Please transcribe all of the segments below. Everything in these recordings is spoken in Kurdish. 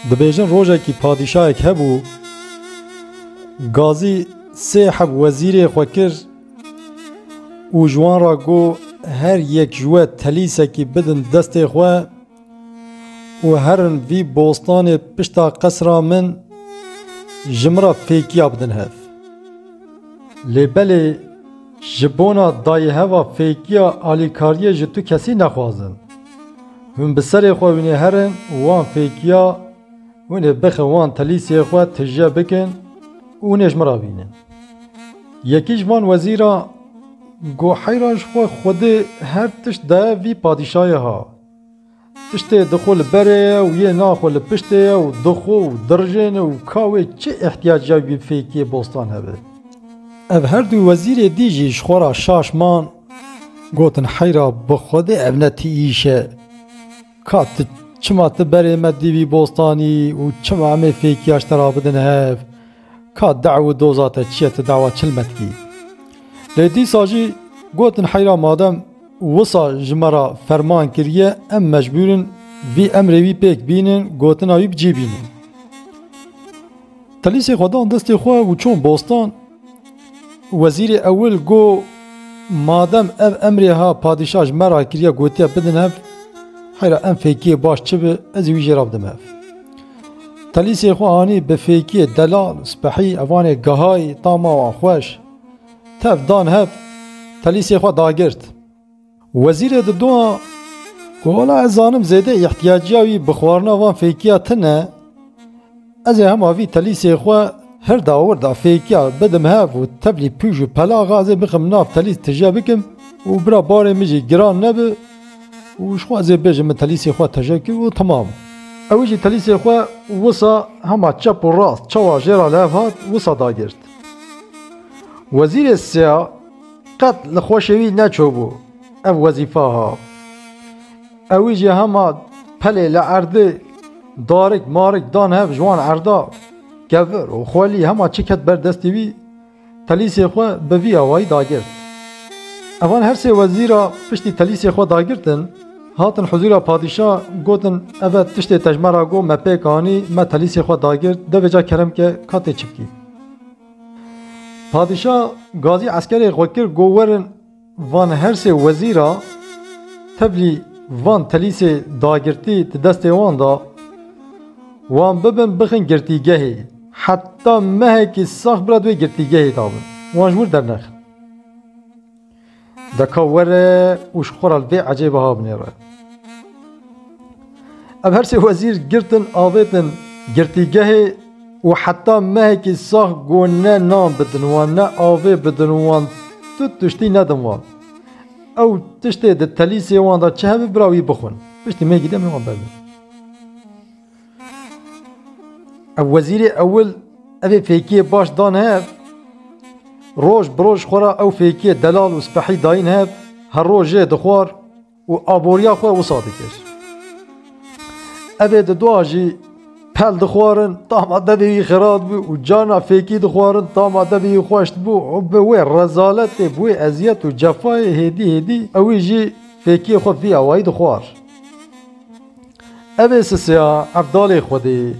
Dibêjin rojekî padîşahek hebû gazî sê heb wezîrê xwe kir û ji wan re got her yek ji we telîsekî bidin destê xwe û herin vî bostanê pişta qesra min ji min re fêkiya bidin hev. Lê belê Ji bona dayê heva fêkiya alîkariyê ji tu kesî nexwazin. Hûn bi serê xwe wînê herin û wan fêkiya hûn ê bixin wan telîsiyê xwe tije bikin û hûn ê ji min re bînin. Yekî ji van wezîran got heyran ji xwe xwedê her tişt daye vî padîşayê ha. Tiştê di xwe li berê ye û yê na xwe li piştê ye û di xwe û dirijêne û ka wê çi îhtîyac ya wî fêkiyê bostan hebe. Ev her du wezîrê dî jî ji xwe ra şaş man, gotin heyra bi xwedê ev ne ti îş e. Ka ti çima ti berê me dî wî bostanî û çima em ê fêkiya ji te ra bidin hev. Ka dew û doza te çi ye tu dawa çil me dikî? Lê dîsa jî gotin heyra madem wisa ji me re ferman kiriye em mecbûr in vî emrê wî pêk bînin gotina wî bi cî bînin. Telîsê xwe dan destê xwe û çûn bostan. Wezîrê ewil got, Madem ev emrê ha padîşah ji me re kiriye gotiye bidin hev, heyra em fêkiyê baş çi bi ez ê wî jê re bidim hev. Telîsê xwe anî bi fêkiyê delal, spehî, evanê gehayî, tama wan xweş. Tev dan hev, telîsê xwe dagirt. Wezîrê di dua ku wela ez zanim zêde îhtiyaciya wî bi xwarina van fêkiya tin e, ez ê hema vî telîsê xwe hirda wirda fêkiya bidim hev û tevlî pûj û pelaxa ez ê bixim nav telîs tije bikim û bira barê min jî giran nebi û ji xwe ez ê bêjim min telîsê xwe teje kir û temam. Ew jî telîsê xwe wisa hema çep û rast çawa jê re li hev hat wisa dagirt. Wezîrê Sea, Qet li xweşê wî neçûbû ev wezîfa ha. Ewî jî hema pelê li erdê darik marik dan hev ji wan erda kevir û xwelî hema çi ket ber destê wî telîsê xwe bi vî awayî dagirt. Evan her sê wezîra piştî telîsê xwe dagirtin hatin huzûra padîşa gotin eve tiştê tejmera got me pêk anî me telîsê xwe dagirt devê ca kerem ke ka tê çi bikî. Padîşa gazî eskerê xwe kir got werin van her sê wezîra tevlî van telîsê dagirtî di destê wan de wan bibin bixin girtîgehê heta mehekî sax bira di wê girtîgehê de bin wan ji wir dernexin. Deka were û ji xwe re vê ecê biha binêre. Em her sê wezîr girtin avêtin girtîgehê û heta mehekî sax ku ne nan bidin wan ne avê bidin wan tu tiştî nedin wan. Ew tiştê di telîsê wan de çi hebe bira wî bixwin. Piştî mehekî dem wan berdin. Ev wezîrê ewil evê fêkiyê baş dan hev. Roj bi roj xwe ra ew fêkiyê delal û spehî dayîn hev, her roj jê dixwar û aboriya xwe wisa dikir. Evê di dua jî pel dixwarin, tama devê wî xirat bû û carna fêkî dixwarin, tama devê wî xweş dibû û bi wê rezaletê, bi wê eziyet û cefayê hêdî hêdî ewî jî fêkiyê xwe vî awayî dixwar. Ev ê sisiya ev dalê xwedê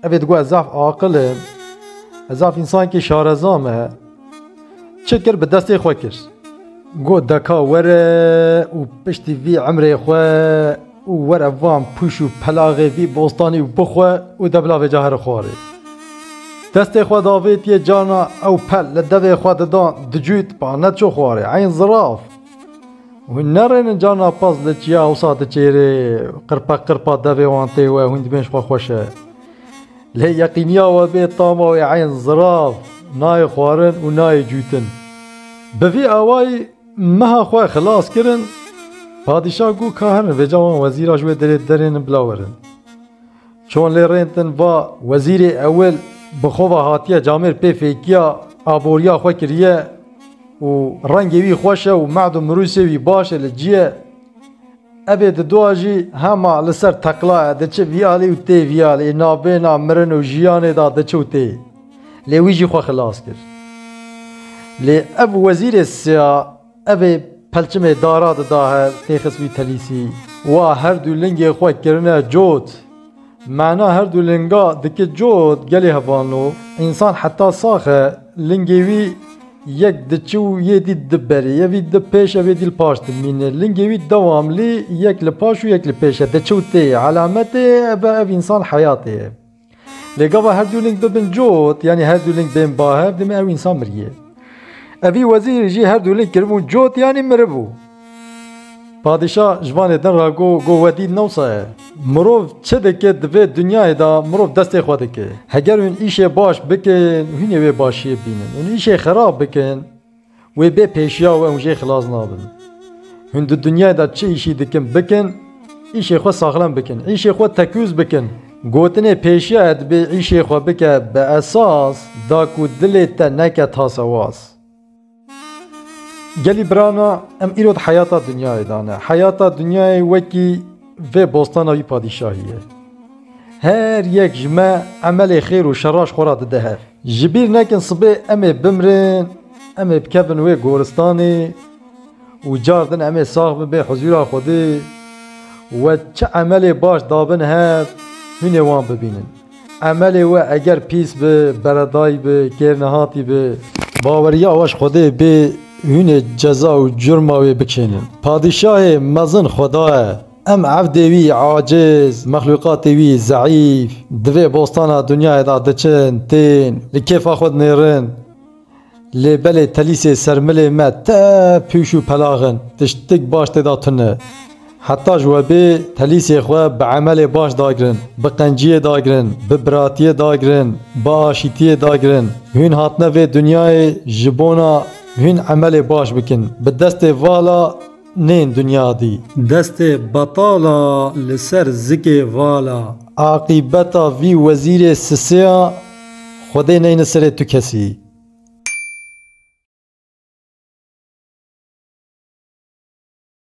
ev ê digot ez zaf aqil im, ez zaf însanekî şareza me. Çi kir bi destê xwe kir. Got deka were û piştî vî emrê xwe û were van pûş û pelaxê vî bostanî û bixwe û de bila vêca here xwarê. Destê xwe davêtiye carna ew pel li devê xwe didan dicût ba neçû xwarê eyn ziraf. Hûn nerênin ca napaz li çiya ewsa diçêrê qirpa qirpa devê wan tê we hûn dibên ji xwe xweş e. Lê yeqîniya we bê tama wê eyn zirav nayê xwarin û nayê cûtin. Bi vî awayî meha xwe xilas kirin, padîşah got ka herin vêca wan wezîra ji wê derê derênin bila werin. Çon lê rên din va wezîrê ewil bi xwe ve hatiye camêr pê fêkiya aboriya xwe kiriye û rengê wî xweş e û mehd û mirûsê wî baş e li cî ye. Evê di dua jî hema li ser teqla ye diçe vî alî û tê vî alî navbêna mirin û jiyanê de diçe û tê. Lê wî jî xwe xilas kir. Lê ev wezîrê siya Evê pelçimê dara dida her tê xisbî telîsî. Wa her dû lingê xwe kirine cot. Mena her dû linga diki cot gelê hevano. Însan heta sax e, lingê wî yek diçi û yê dî di berî ye, vî di pêş e vê dî li paş dimîne. Lingê wî dewamlî yek li paş û yek li pêş e, diçi û tê ye. Elemetê ev e ev însan heyatê ye. Lê gava her dû ling bibin cot yanî her dû ling bên bahev dimê ew însan miriyê. Evî wezîr jî her dû ling kiribûn cot yanî miribû. Padîşa ji van êdin re got, got we dît ne wisa ye. Mirov çi dike di vê dinyayê de mirov destê xwe dike. Heger hûn îşê baş bikin hûnê wê başiyê bînin. Hûn îşê xerab bikin. Wê bê pêşiya we hûn jê xilas nabin. Hûn di dinyayê de çi îşî dikin bikin, îşê xwe saxlem bikin, îşê xwe tekûz bikin. Gotinê pêşiya ye dibê îşê xwe bike bi esas da ku dilê te neke tasewaz. Gelî birana em îro di heyata dinyayê de ne. Heyata dinyayê wekî vê bostana wî padîşahî ye. Her yek ji me emelê xêr û şeraş xwe re dide hev. Ji bîr nekin sibê em ê bimrin, em ê bikevin wê goristanê û car din em ê sax bin bên huzûra Xwedê we çi emelê baş dabin hev hûn ê wan bibînin. Emelê we eger pîs bi, beredayî bi, kêrnehatî bi. Baweriya we ji Xwedê bê hûn ê ceza û curma wê bikênin. Padîşahê mezin Xweda ye. Em evdê wî aciz, mexlûqatê wî zeîf, di vê bostana dinyayê de diçin, tên, li kêfa xwe dinêrin. Lê belê telîsê ser milê me te pûş û pelax in, tiştik baş tê de tune. Heta ji we bê telîsê xwe bi emelê baş dagirin, bi qenciyê dagirin, bi biratiyê dagirin, bi aşîtiyê dagirin. Hûn hatine vê dinyayê ji bona hûn emelê baş bikin. Bi destê vala nên dinya dî. Destê betala li ser zikê vala. Aqîbeta vî wezîrê sisêya Xwedê neyni serê tu kesî.